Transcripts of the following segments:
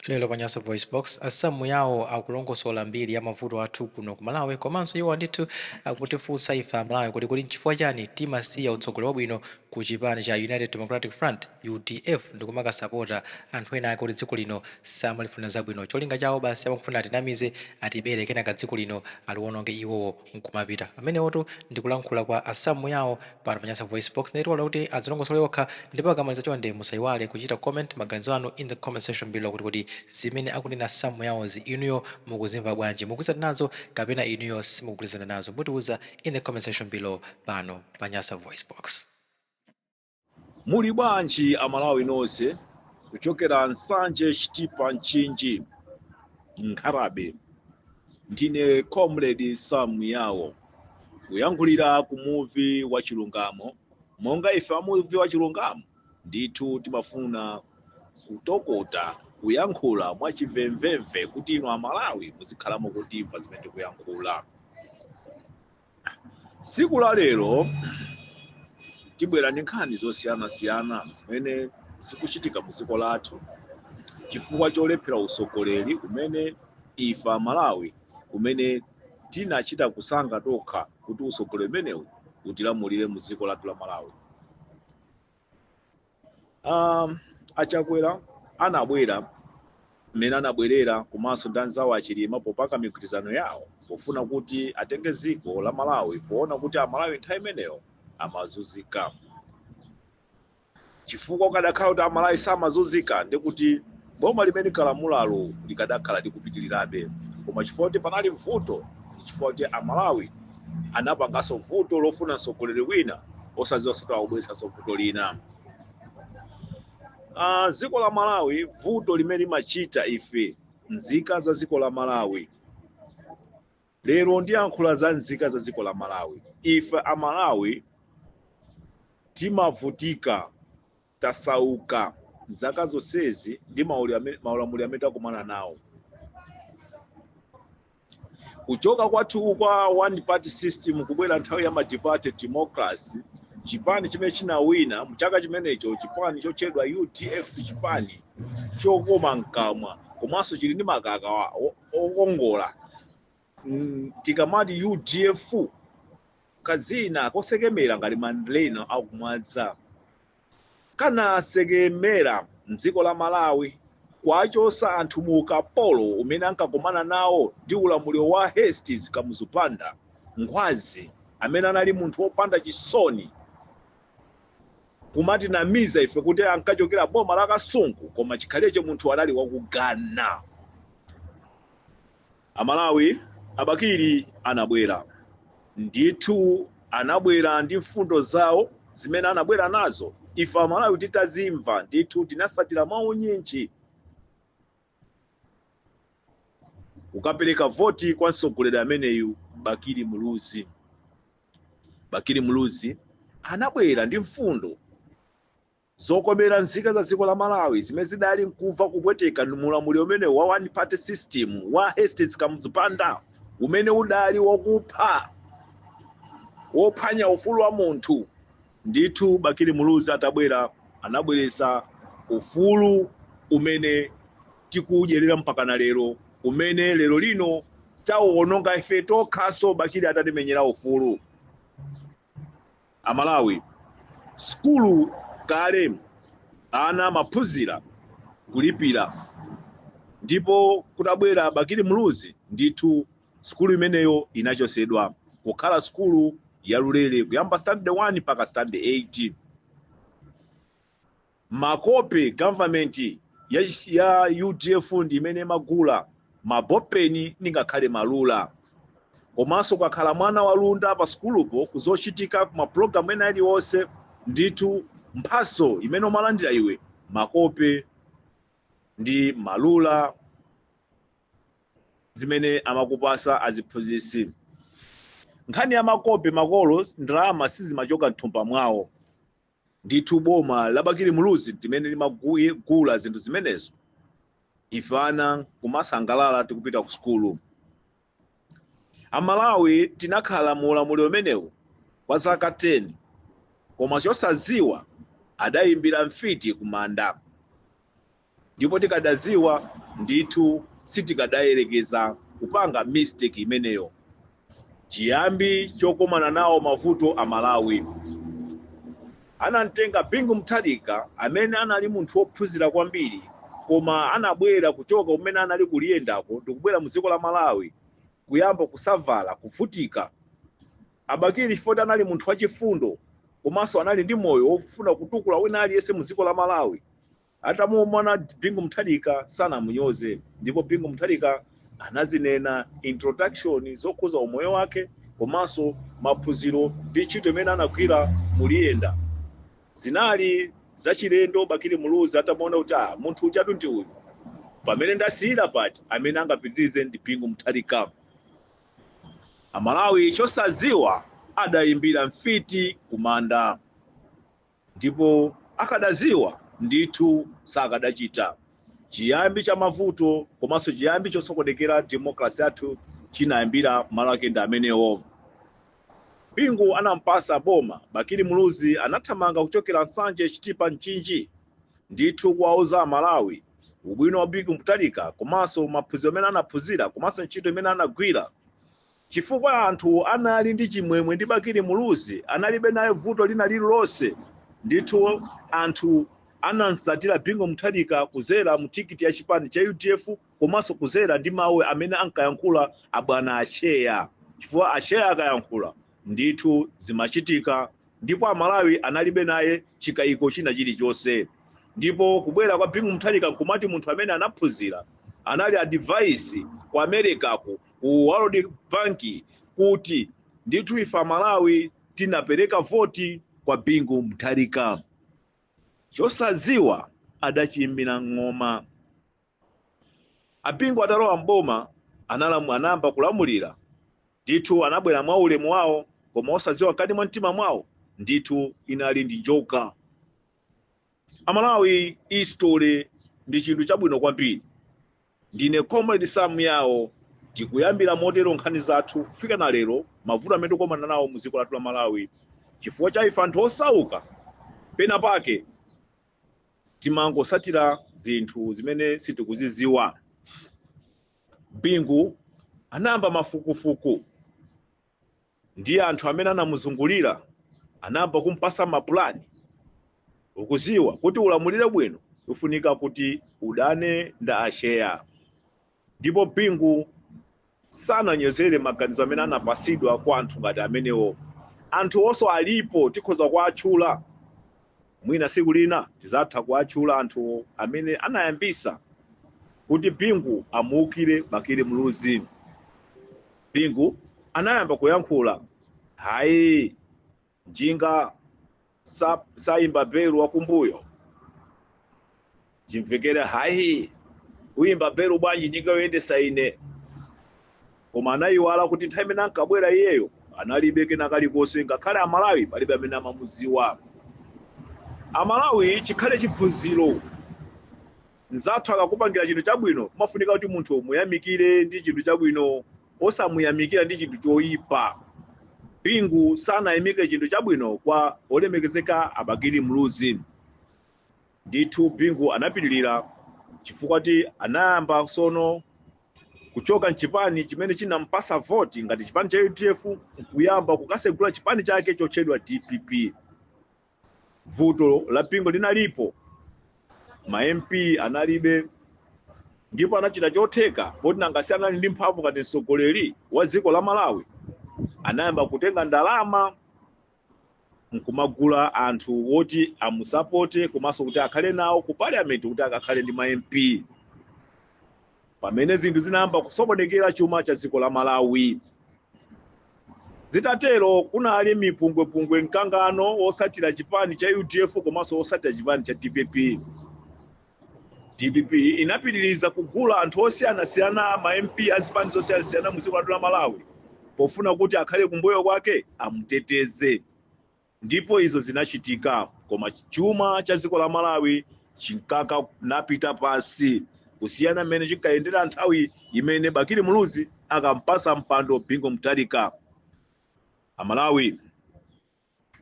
Lero pa Nyasa VoiceBox, a Sam Muyao akulongosola mbiri ya mavuto athu kuno ku Malawi komanso iwo ndithu akutifunsa ife a Malawi kuti kodi nchifukwa chani timasiya utsogoleri wabwino ku chipani cha United Democratic Front, udf, ndikumakasapota anthu ena ake oti dziko lino samalifunira zabwino. Cholinga chawo basi amangofuna atinamize, atibere kenaka dziko lino aliwononge iwowo. nkumapita. Amenewotu ndi kulankhula kwa a Sam Muyao pano pa Nyasa VoiceBox. Ndiye tiwalola kuti adzilongosole okha ndipo akamaliza chonde musaiwale kuchita comment maganizo anu in the comment section below kuti kodi zimene akunena Sam Muyao'zi inuyo mukuzimva bwanji? Mukugwirizana nazo kapena inuyo simukugwirizana nazo? Mutiuza in the comment section below pano pa Nyasa VoiceBox. Muli bwanji Amalawi nonse kuchokera Nsanje Chitipa Mchinji Nkhata Bay ndine comrade Sam Muyao kuyankhulira ku muvi wa chilungamo monga ife amuvi wa chilungamo ndithu timafuna kutokota kuyankhula mwachimvemvemve kuti inu Amalawi muzikhala mukutimva zimene tikuyankhula tsiku la lero tibwera ndi nkhani zosiyanasiyana zimene zikuchitika mu dziko lathu chifukwa cholephera usogoleri umene ife amalawi umene tinachita kusankha tokha kuti usogoleri umenewu utilamulire mu dziko lathu la malawi um, achakwera anabwera mmene anabwerera komanso ndi anzawo achilima popanga migwirizano yawo pofuna kuti atenge dziko la malawi poona kuti amalawi nthawi imeneyo amazunzika chifukwa kukadakhala kuti amalawi samazunzika ndikuti Boma limene linkalamulalo likadakhala likupitirirabe koma chifukwa kuti panali vuto chifukwa kuti a Malawi anapanganso vuto lofuna mtsogoleri wina osadziwanso kuti akubweretsanso vuto lina. Ah, dziko la Malawi vuto limene limachita ife nzika za dziko la Malawi lero ndiyankhula za nzika za dziko la Malawi ife a Malawi timavutika tasauka zaka zonsezi ndi maulamuliro amene takumana nawo kuchoka kwathu kwa one party system kubwera nthawi ya multiparty democracy chipani chimene chinawina mchaka chimenecho chipani chotchedwa udf chipani chokoma mkamwa komanso chili ndi makaka okongola mm, tikamati udf kazina kosekemera ngati mandalena akumwanza kanasekemera mdziko la malawi kwachosa anthu mu ukapolo umene ankakumana nawo ndi ulamuliro wa hastings kamuzu banda ngwazi amene anali munthu wopanda chisoni kumatinamiza ife kuti ankachokera boma la kasungu koma chikhalirecho munthu anali waku ghana Amalawi a Bakili anabwera. Ndithu anabwera ndi mfundo zawo zimene anabwera nazo. Ife Amalawi titazimva ndithu tinasatira mwaunyinji kukapereka voti kwa mtsogoleri ameneyu Bakili Muluzi. Bakili Muluzi anabwera ndi mfundo Zokomera nzika za dziko la Malawi zimene zidali nkuva kupweteka ndi ulamuliro umenewu wa one party system wa Hastings Kamuzu Banda umene udali wokupha, wophwanya ufulu wa munthu. Ndithu Bakili Muluzi atabwera anabweretsa ufulu umene tikuudyerera mpakana lero, umene lero lino tauononga ife tokhaso Bakili atatimenyera ufulu. Amalawi, sukulu kale ana amaphunzira kulipira ndipo kutabwera Bakili Muluzi ndithu sukulu imeneyo inachosedwa kukhala sukulu yalulere kuyamba standard 1 mpaka standard 8. makope government ya, ya udf ndi imene imagula mabopeni ndi ngakhale malula komanso ukakhala mwana wa luntha pa sukulupo kuzochitika ku mapulogalamu ena alionse ndithu mphaso imene umalandira iwe makope ndi malula zimene amakupasa aziphunzitsi nkhani ya makope makolo ndalama sizimachoka mthumba mwawo Ndithu boma la Bakili Muluzi limene limagula zinthu zimenezo ife ana nkumasangalala tikupita ku sukulu. A Malawi tinakhala mu ulamuliro umenewu kwa zaka 10 koma chosadziwa adayimbira mfiti kumanda. ndipo tikadaziwa ndithu sitikadayerekeza kupanga mistake imeneyo chiyambi chokomana nawo mavuto a malawi anamtenga bingu mutharika amene anali munthu wophunzira kwambiri koma anabwera kuchoka kumene anali kuliyendako ndikubwera mu dziko la malawi kuyamba kusavala kuvutika abakili chifukwa anali munthu wachifundo komanso anali ndi moyo wofuna kutukula wina aliyense mu dziko la malawi Atamuona Bingu Mutharika sanamunyoze ndipo Bingu Mutharika anazinena introduction zokhuza umoyo wake komanso maphunziro ndi ntchito imene anagwira muliyenda. Zinali zachilendo Bakili Muluzi atamuona kuti ah, munthu ujatu ndi uyu. Pamene ndasiyira paja amene angapitirize ndi Bingu Mutharika. Amalawi chosaziwa adayimbira mfiti kumanda. Ndipo akadaziwa ndithu sakadachita. Chiyambi cha mavuto komanso chiyambi chosokonekera democracy yathu chinayambira malo ake ndi amenewo. Bingu anampasa boma Bakili Muluzi anathamanga kuchokera Nsanje, Chitipa, Mchinji ndithu kuwauza Amalawi ubwino wa Bingu Mutharika komanso maphunziro amene anaphunzira komanso ntchito imene anagwira. Chifukwa anthu anali ndi chimwemwe ndi Bakili Muluzi, analibe naye vuto lina liri lonse, ndithu anthu anamsatira Bingu Mutharika kuzera mu tikiti ya chipani cha udf komanso kuzera ndi mau amene ankayankhula a bwana Atcheya chifukwa Atcheya akayankhula ndithu zimachitika ndipo a Malawi analibe naye chikaiko china chiri chonse ndipo kubwera kwa Bingu Mutharika nkumati munthu amene anaphunzira anali adviser ku Americako ku World Bank kuti ndithu ife Amalawi tinapereka voti kwa Bingu Mutharika. Chosaziwa adachiimbira ng'oma. Abingu atalowa m'boma analamu- anayamba kulamulira ndithu anabwera mwa ulemu wawo koma osaziwa mkati mwa mtima mwawo ndithu munali ndi njoka. amalawi history ndi chinthu chabwino kwambiri ndine comrade sam yawo tikuyambira motero nkhani zathu kufika na lero mavuto amene tikukumana nawo mu dziko lathu la malawi chifukwa cha ife anthu osauka pena pake timangosatira zinthu zimene sitikuziziwa bingu anayamba mafukufuku ndi anthu amene anamuzungulira anayamba kumpasa mapulani ukuziwa kuti ulamulire bwino kufunika kuti udane nda atcheya ndipo bingu sananyozere maganizo amene anapasidwa kwa anthu ngati amenewo anthu onso alipo tikhoza kuwatchula mwina siku lina tizatha kuwatchula anthu amene anayambisa kuti bingu amuukire bakili muluzi Bingu anayamba kuyankhula. Hayi, njinga sayimba belu wakumbuyo. Chimvekere hayi, uyimba belu bwanji njinga yoyendesa ine. Koma anayiwala kuti nthawi imene ankabwera iyeyo analibe kena kalikonse ngakhale Amalawi palibe amene amamuziwa. Amalawi chikhale chiphunziro Mnzathu akakupangira chinthu chabwino, kumafunika kuti munthu umuyamikire ndi chinthu chabwino, osamuyamikira ndi chinthu choipa. Bingu sanayamikire chinthu chabwino kwa olemekezeka a Bakili Muluzi. Ndithu Bingu anapitirira chifukwa kuti anayamba sono kuchoka mchipani chimene chinampasa voti ngati chipani cha udf kuyamba kukasegula chipani chake chotchedwa dpp vuto la Bingu linalipo ma mp analibe ndipo anachita chotheka poti nanga si anali ndi mphamvu ngati mtsogoleri wa dziko la malawi anayamba kutenga ndalama nkumagula anthu woti amusapote komanso kuti akhale nawo ku parliament kuti akakhale ndi ma mp pamene zinthu zinayamba kusokonekera chuma cha dziko la malawi zitatero kunali mipungwepungwe mkangano osatira chipani cha udf komanso osatira chipani cha dpp dpp inapitiriza kugula anthu osiyanasiyana ma mp a zipani zosiyanasiyana mu dziko lathu la malawi pofuna kuti akhale kumbuyo kwake amuteteze ndipo izo zinachitika koma chuma cha dziko la malawi chinkakanapita pansi kusiyana mmene chinkayendera nthawi imene bakili muluzi ankampasa mpando bingu mutharika amalawi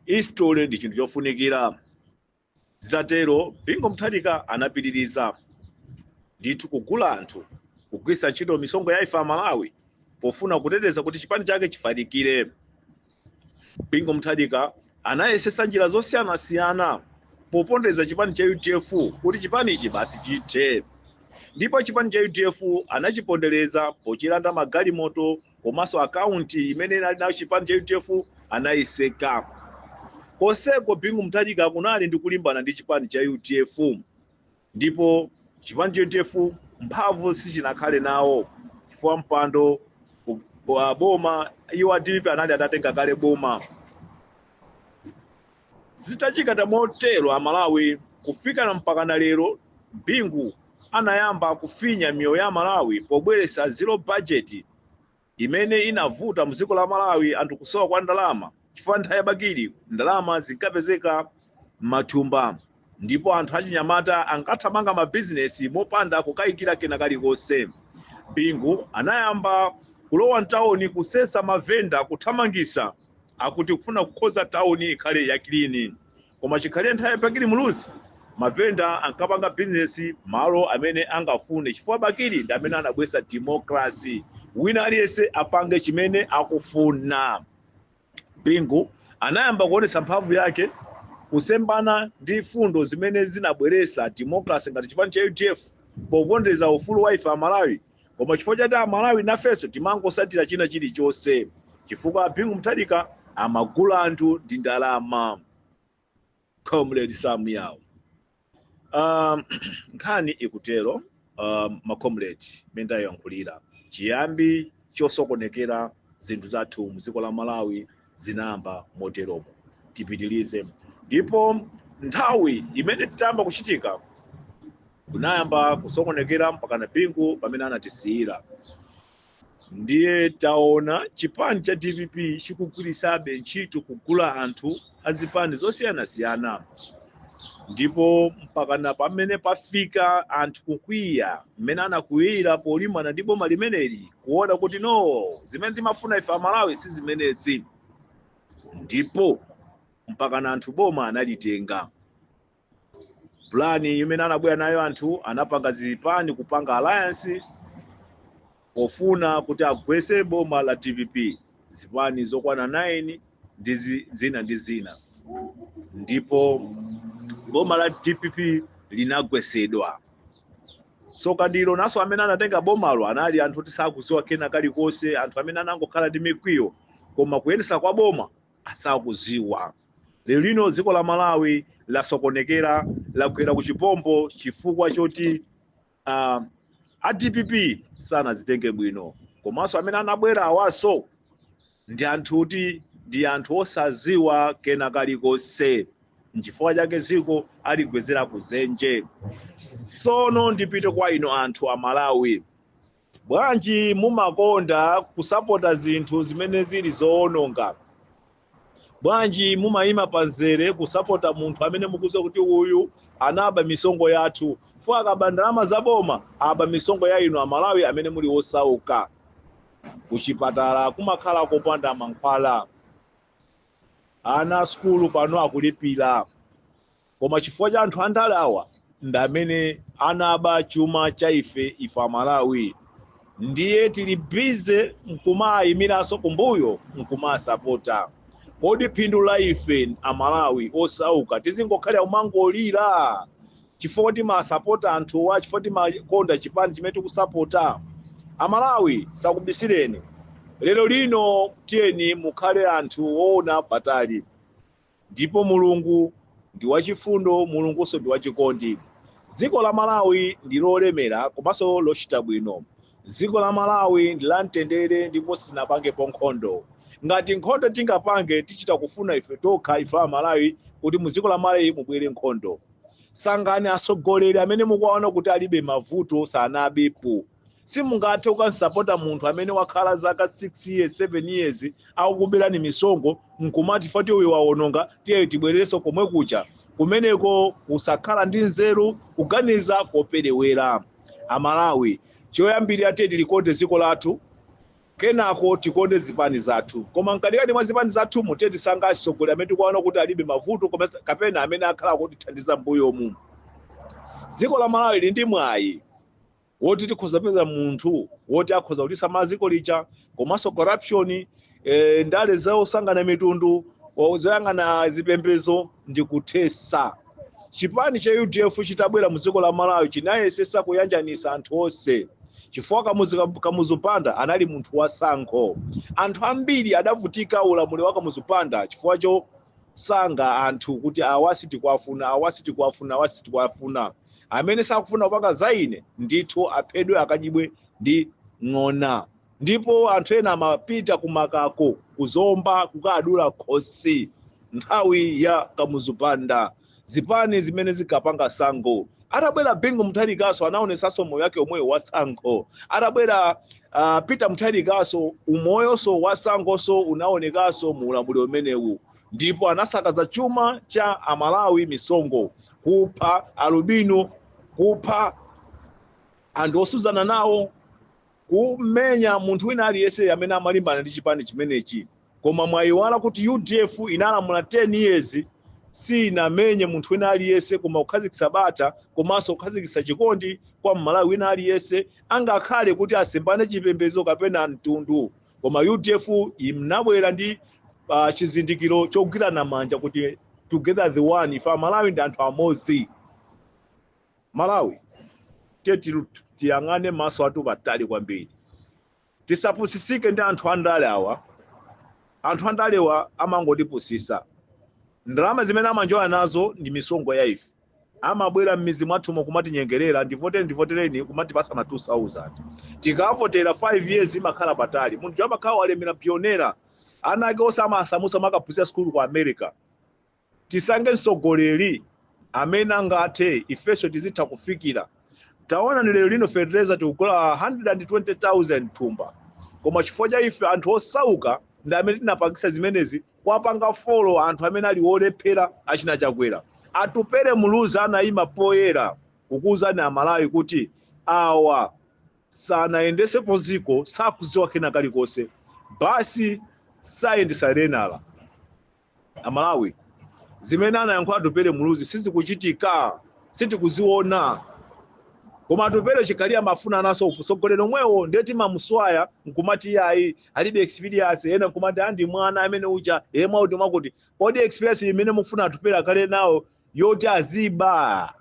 history ndi chinthu chofunikira Zitatero, Bingu Mutharika anapitiriza, Ndithu kugula anthu, kugwiritsa ntchito misonkho ya ife Amalawi pofuna kuteteza kuti chipani chake chifalikire. Bingu Mutharika anayesetsa njira zosiyanasiyana popondereza chipani cha udf kuti chipanichi basi chithe ndipo chipani cha udf anachipondereza pochilanda magalimoto komanso akaunti imene inali nayo chipani cha udf anayiseka konseko bingu mutharika kunali ndi kulimbana ndi chipani cha udf ndipo chipani cha udf mphamvu sichinakhale nawo chifukwa mpando wa boma iwo a dpp anali atatenga kale boma Zitachitika motero Amalawi kufikana mpakana lero, Bingu anayamba kufinya miyoyo ya Amalawi pobweretsa zero budget imene inavuta mziko la Malawi anthu kusowa kwa ndalama chifukwa nthawi ya Bakili ndalama zinkapezeka mmathumba. ndipo anthu achinyamata ankathamanga mabizinesi mopanda kukayikira kena kalikonse. Bingu anayamba kulowa mtawoni kusesa mavenda kuthamangisa akuti kufuna kukhonza tawuni ikhale yakilini. Koma chikhale nthawi ya Bakili Muluzi, mavenda ankapanga bizinesi malo amene angafune chifukwa Bakili ndi amene anabweresa democracy. Wina aliyense apange chimene akufuna. bingu anayamba kuonetsa mphamvu yake kusemphana ndi fundo zimene zinabweresa democracy ngati chipani cha udf popondereza ufulu wa ife amalawi koma chifukwa chati amalawi nafenso timangosatira china chilichonse chifukwa bingu mutharika amagula anthu ndi ndalama comrade sam yawo um, nkhani ikutero um, macomrade mmene tayankhulira chiyambi chosokonekera zinthu zathu mdziko la malawi zinayamba moteromo tipitilize ndipo nthawi imene zitayamba kuchitika kunayamba kusokonekera mpakana bingu pamene anatisiyira ndiye taona chipani cha dpp chikugwirisabe ntchito kugula anthu a zipani zosiyanasiyana ndipo mpakana pamene pafika anthu kukwiya mmene anakwiyira polimbana ndi boma limeneli kuona kuti no zimene timafuna ife amalawi si zimenezi ndipo mpakana anthu boma analitenga plan imene anabwera nayo anthu anapanga zipani kupanga alliance pofuna kuti agwese boma la dpp zipani zokwana 9 ndi zi- zina ndi zina ndipo boma la dpp linagwesedwa sono kaamba naso amene anatenga bomalo anali anthu oti sakuziwa kena kalikonse anthu amene anangokhala ndi mikwiyo koma kuyendesa kwa boma sakuziwa. Lero lino dziko la Malawi lasokonekera lagwera ku chiphompho chifukwa choti uh, a dpp sanazitenge bwino komanso amene anabwera awaso ndi anthu oti ndi anthu osaziwa kena kalikonse nchifukwa chake dziko aligwezera kuzenje sono ndipite kwa inu anthu a malawi Bwanji mumakonda kusapota zinthu zimene zili zowononga? Bwanji mumayima pamzere kusapota munthu amene mukudziwa kuti uyu anaba misonkho yathu? Chifukwa akaba ndalama za boma, aba misonkho ya inu Amalawi amene muli osauka. Kuchipatala kumakhala kopanda mankhwala. Ana a sukulu pano akulipira. koma chifukwa cha anthu andale awa ndi amene anaba chuma cha ife ife amalawi ndiye tili bize nkumayimiranso kumbuyo nkumasapota kodi phindu la ife amalawi osauka tizingokhalira kumangolira chifukwa timasapota anthuwa chifukwa timakonda chipani chimene tikusapota amalawi sakubisireni lero lino tiyeni mukhale anthu woona patali Ndipo Mulungu ndi wachifundo, Mulungunso ndi wachikondi. Dziko la Malawi ndi lolemera komanso lochita bwino. Dziko la Malawi ndi lamtendere ndipo sinapangepo nkhondo. Ngati nkhondo tingapange, tichita kufuna ife tokha, ife Amalawi, kuti mu dziko la Malawi mubwere nkhondo. Sankhani atsogoleri amene mukuwaona kuti alibe mavuto, sanabepo. simungathe kukamsapota munthu amene wakhala zaka 6 years 7 years akukuberani misonkho nkumati foti uyu wawononga tiye tibwererenso komwe kuja kumeneko kusakhala ndi nzeru kuganiza koperewera amalawi choyambirira tiye tilikonde dziko lathu kenako tikonde zipani zathu koma mkatikati mwa zipani zathumu tiye tisankhe atsogoleri amene tikuwaona kuti alibe mavuto kapena amene akhala akutithandiza mbuyomu dziko la malawi lili ndi mwayi woti tikhoza kupeza munthu woti akhoza kutisa maziko lija komanso corruption eh, ndale zosankhana mitundu zoyang'ana zipembezo ndi kuthesa chipani cha udf chitabwera mu dziko la malawi chinayesesa kuyanjanisa anthu onse chifukwa kamuzu banda anali munthu wasankho anthu ambiri adavutika ulamuliro wa kamuzu banda chifukwa cho sankha anthu kuti awa sitikwafuna awa sitikwafuna awa sitikwafuna amene sakufuna kupanga za ine ndithu aphedwe akadyedwe ndi ng'ona ndipo anthu ena amapita kumakako kuzomba kukadulidwa khosi nthawi ya kamuzu banda zipani zimene zinkapanga sankho atabwera bingu mutharikaso anaonesaso moyo wake omweyo wa sankho atabwera uh, peter mutharikaso umoyoso wa sankhoso unaonekaso mu ulamuliro umenewu ndipo anasakaza chuma cha amalawi misonkho kupha alubino kupha anthu otsutsana nawo kumenya munthu wina aliyense amene amalimbana ndi chipani chimenechi koma mwayiwala kuti udf inalamula 10 years sinamenye munthu wina aliyense koma kukhazikitsa bata komanso kukhazikitsa chikondi kwa mmalawi wina aliyense angakhale kuti asemphane chipembedzo kapena mtundu koma udf inabwera ndi uh, chizindikiro chogwirana manja kuti together the one ife amalawi ndi anthu amodzi Malawi tiye tilu- tiyang'ane maso athu patali kwambiri tisapusisike ndi anthu andale awa anthu andalewa amangotipusisa ndalama zimene amanjoya nazo ndi misonkho ya ife amabwera m'midzi mwathumo kumatinyengerera ndivotere ndivotereni kumatipasa ma 2000 tikavotera 5 years imakhala patali munthu amakhala walemera poonera ana ake onse amasamusa makaphunzira sukulu ku america Tisankhe mtsogoleri amene angathe ifenso tizitha kufikira. Taonani lero lino fetereza tikugula 120,000 thumba koma chifukwa cha ife anthu osauka ndi amene tinapangisa zimenezi kuwapanga follow anthu amene ali olephera achina Chakwera. Atupele Muluzi anaima poyera kukuuzani a Malawi kuti awa sanayendesepo dziko sakudziwa kena kalikonse basi sayendesa renala. amalawi zimene anayankhula atupele muluzi sizikuchitika sitikuziona koma atupele chikhalire amafuna nawonso utsogoleri omwewo ndiye timamusiya nkumati iyayi alibe experience ena nkumati ah ndi mwana amene uja iye mwakuti mwakuti kodi experience imene mufuna atupele akhale nayo yoti aziba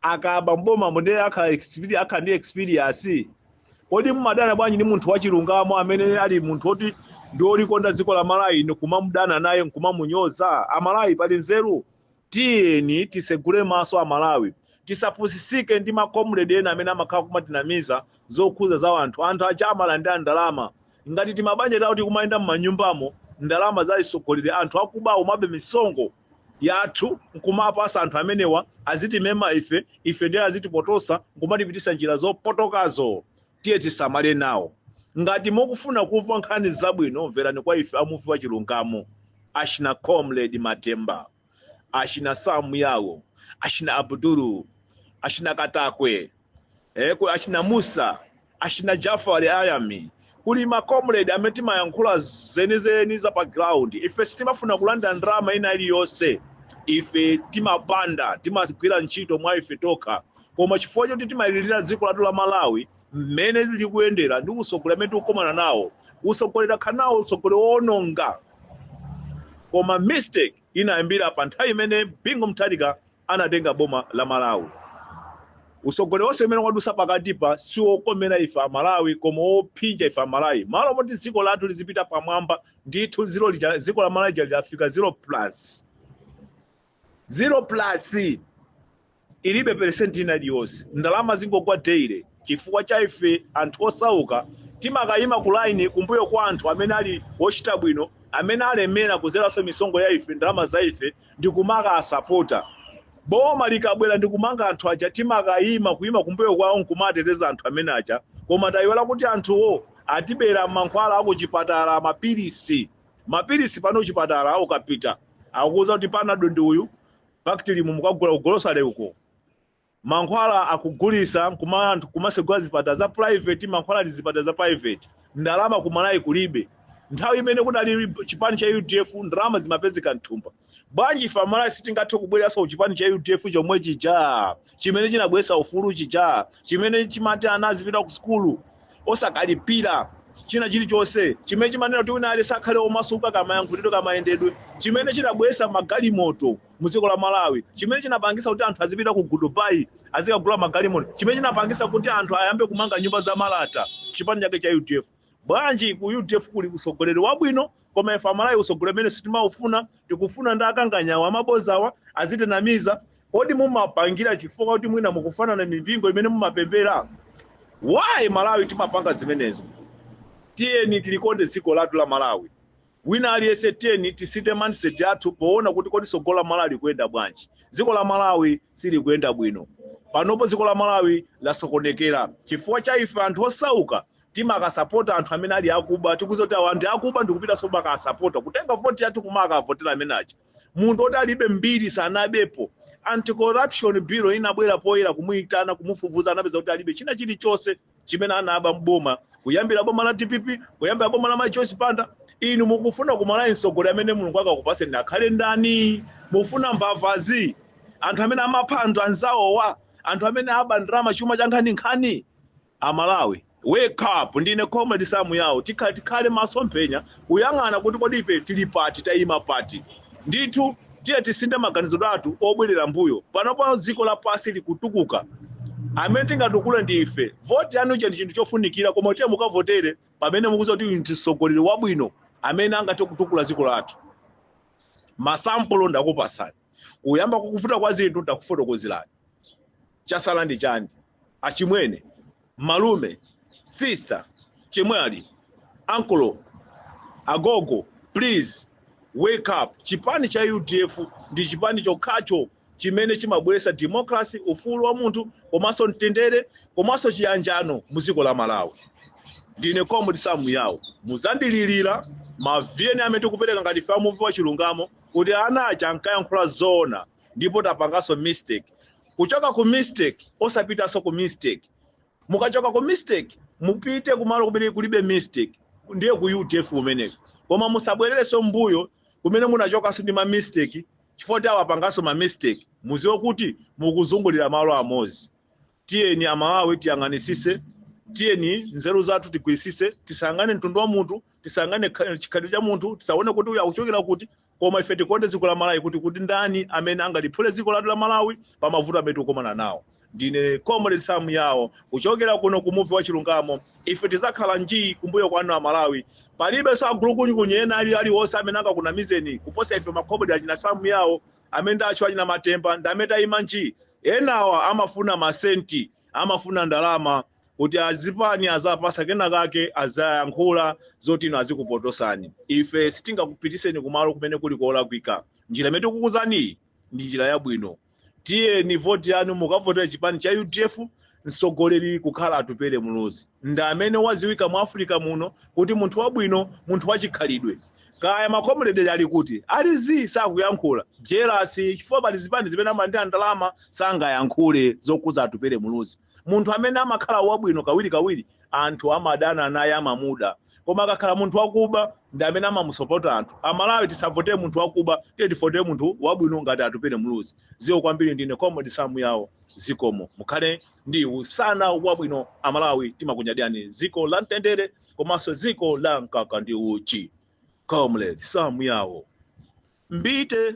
akabe m'bomamo ndiye akhale experi- akhale ndi experience kodi mumadana bwanji ndi munthu wachilungamo amene ali munthu woti ndi olikonda dziko la malawi ndikumamudana naye nkumamunyoza amalawi pali nzeru tiyeni tisegule maso amalawi tisapusisike ndi makomredi ena amene amakhala kumatinamiza zokhudza za anthu anthu aja amalandira ndalama ngati timabanja tawo tikumayenda m'manyumbamo ndalama za atsogoleri anthu akubawo amaba misonkho yathu nkumapatsa anthu amenewa azitimema ife ife ndiye azitipotoza nkumatipititsa njira zopotokazo tiye tisamale nawo ngati mukufuna kumva nkhani zabwino mverani kwa ife amuvi wa chilungamo achina comrade matemba achina samu yawo achina abdul achina katakwe eh, ku- achina musa achina jafari ayami kuli macomrade amene timayankhula zenizeni za pa ground ife sitimafuna kulandira ndalama ina iliyonse ife timapanda timagwira ntchito mwa ife tokha koma chifukwa choti timalirira dziko lathu la malawi mmene likuyendera ndi utsogoleri umene tikukomana nawo utsogoleri tili nawo utsogoleri woononga koma mistake inayambira pa nthawi imene bingu mutharika anatenga boma la malawi utsogoleri wonse umene wadusa pakatipa si wokomera ife amalawi koma wophinja ife amalawi malo moti dziko lathu lizipita pamwamba ndithu dziko lija dziko la malawi lija lidzafika zero plus zero plus ilibe peresenti ina iliyonse ndalama zingogwa daily chifukwa cha ife anthu osauka timakayima ku line kumbuyo kwa anthu amene ali ochita bwino amene alemera kudzeranso misonkho ya ife ndalama za ife ndi kumakawasapota boma likabwera ndi kumanga anthu aja timakayima kuyima kumbuyo kwawo nkumateteza anthu amene aja koma tayiwala kuti anthuwo atibera mankhwala akuchipatala mapilisi mapilisi pano kuchipatala ukapita akukuuza kuti panado ndi uyu bactrim mukagula kugolosale uko mankhwala akugulisa nkuma anthu kumasegula zipatala za private mankhwala ali zipatala za private ndalama kumalawi kulibe nthawi imene kunali chipani cha udf ndalama zimapezeka mthumba bwanji ife amalawi sitingathe kubwereranso kuchipani cha udf chomwe chija chimene chinabweretsa ufulu chija chimene chimati ana azipita ku sukulu osakalipira china chilichonse chimene chimanena kuti wina aliyense akhale omasuka kamayankhulidwe kamayendedwe chimene chinabweretsa magalimoto mu dziko la malawi chimene chinapangisa kuti anthu azipita ku dubai azikagula magalimoto chimene chinapangisa kuti anthu ayambe kumanga nyumba za malata chipani chake cha udf bwanji ku udf kuli utsogoleri wabwino koma ife amalawi utsogoleri umene sitimaufuna tikufuna ndi akanganyawa amabozawa azitinamiza kodi mumapangira chifukwa kuti mwina mukufanana mipingo imene mumapembera why malawi timapanga zimenezo tiyeni tilikonde dziko lathu la malawi wina aliyense tiyeni tisinthe mindset yathu poona kuti kodi tsogolo la malawi likuyenda bwanji dziko la malawi silikuyenda bwino panopo dziko la malawi lasokonekera chifukwa cha ife anthu osauka timakasapota anthu amene ali akuba tikudziwa kuti awa ndi akuba ndikupitanso kumakasapota kutenga voti yathu kumakavotera amene aja munthu oti alibe mbiri sanabepo anti-corruption bureau inabwera poyera kumuyitana kumufufuza anapeza kuti alibe china chilichonse chimene anaba mboma kuyambira boma la dpp kuyambira boma la majoyce banda inu mukufuna kumalawi mtsogoleri amene mulungu akakupatseni akhale ndani mufuna mbavazi, anthu amene amapha anthu anzawowa anthu amene aba ndalama chuma cha nkhaninkhani Amalawi wake up ndine comrade Sam Yao tikhale tikhale maso mphenya kuyang'ana kuti kodi ife tili pati tayima pati ndithu tiye tisinthe maganizo athu obwerera mbuyo panopa dziko lapasi likutukuka amene tingatukule ndi ife voti yanu ija ndi chinthu chofunikira koma tiye mukavotere pamene mukudziwa kuti uyu ndi mtsogoleri wabwino amene angathe kutukula dziko lathu masampulo ndakupatsani kuyamba kukuvuta kwa zinthu ndakufotokozerani chasala ndi chani? Achimwene, malume, sister, chemwali, ankolo, agogo please wake up chipani cha udf ndi chipani chokhacho chimene chimabweretsa democracy, ufulu wa munthu komanso mtendere komanso chiyanjano mu dziko la Malawi. Ndine Comrade Sam Yao, mudzandililira maviyeni amene tikupereka ngati ife amuvi wa chilungamo. kuti ana aja ankayankhula zoona ndipo tapanganso mistake kuchoka ku mistake osapitanso ku mistake mukachoka ku mistake mupite kumalo kumene kulibe mistake ndiye ku udf kumeneko koma musabwererenso mbuyo kumene munachokanso ndi ma mistake chifukwa kuti tawapanganso ma mistake muziwe kuti mukuzungulira malo amodzi tiyeni amalawi tiyang'anisise tiyeni nzeru zathu tigwirisise tisayang'ane mtundu wa munthu tisayang'ane chikhalidwe cha munthu tisaone kuti uyu akuchokera kuti koma ife tikonde dziko la malawi kuti ndani amene angaliphule dziko lathu la malawi pa mavuto amene tikukomana nawo ndine comrade sam yawo kuchokera kuno ku muvi wa chilungamo ife tidzakhala njii kumbuyo kwanu amalawi palibe so agulukunyinda ena ali aliwonse amene angakunamizeni kuposa ife makomrade achina sam yawo amene ndatchula achina matemba ndi amene tayima nji enawa amafuna masenti amafuna ndalama kuti azipani azapasa kena kake azayankhula zoti zina azikupotosani ife sitingakupitiseni kumalo kumene kuli kolakwika njira imene tikukuuzaniyi ndi njira yabwino tiyeni voti yanu mukavotere chipani cha udf mtsogoleri kukhala atupele muluzi ndi amene waziwika mu africa muno kuti munthu wabwino munthu wachikhalidwe kaya makomrede ali kuti ali zii sakuyankhula jelasi chifukwa pali zipani zimene amalandira ndalama sangayankhule zokuza atupele muluzi munthu amene amakhala wabwino kawirikawiri anthu amadana naye amamuda koma akakhala munthu wakuba ndi amene amamusopota anthu amalawi tisavotere munthu wakuba tiye tivotere munthu wabwino ngati atupele muluzi zikomo kwambiri ndine comrade samu yawo zikomo mukhale ndi usana wabwino amalawi timakunyadirani dziko la mtendere komanso dziko la mkaka ndi uchi comrade samu yawo mbite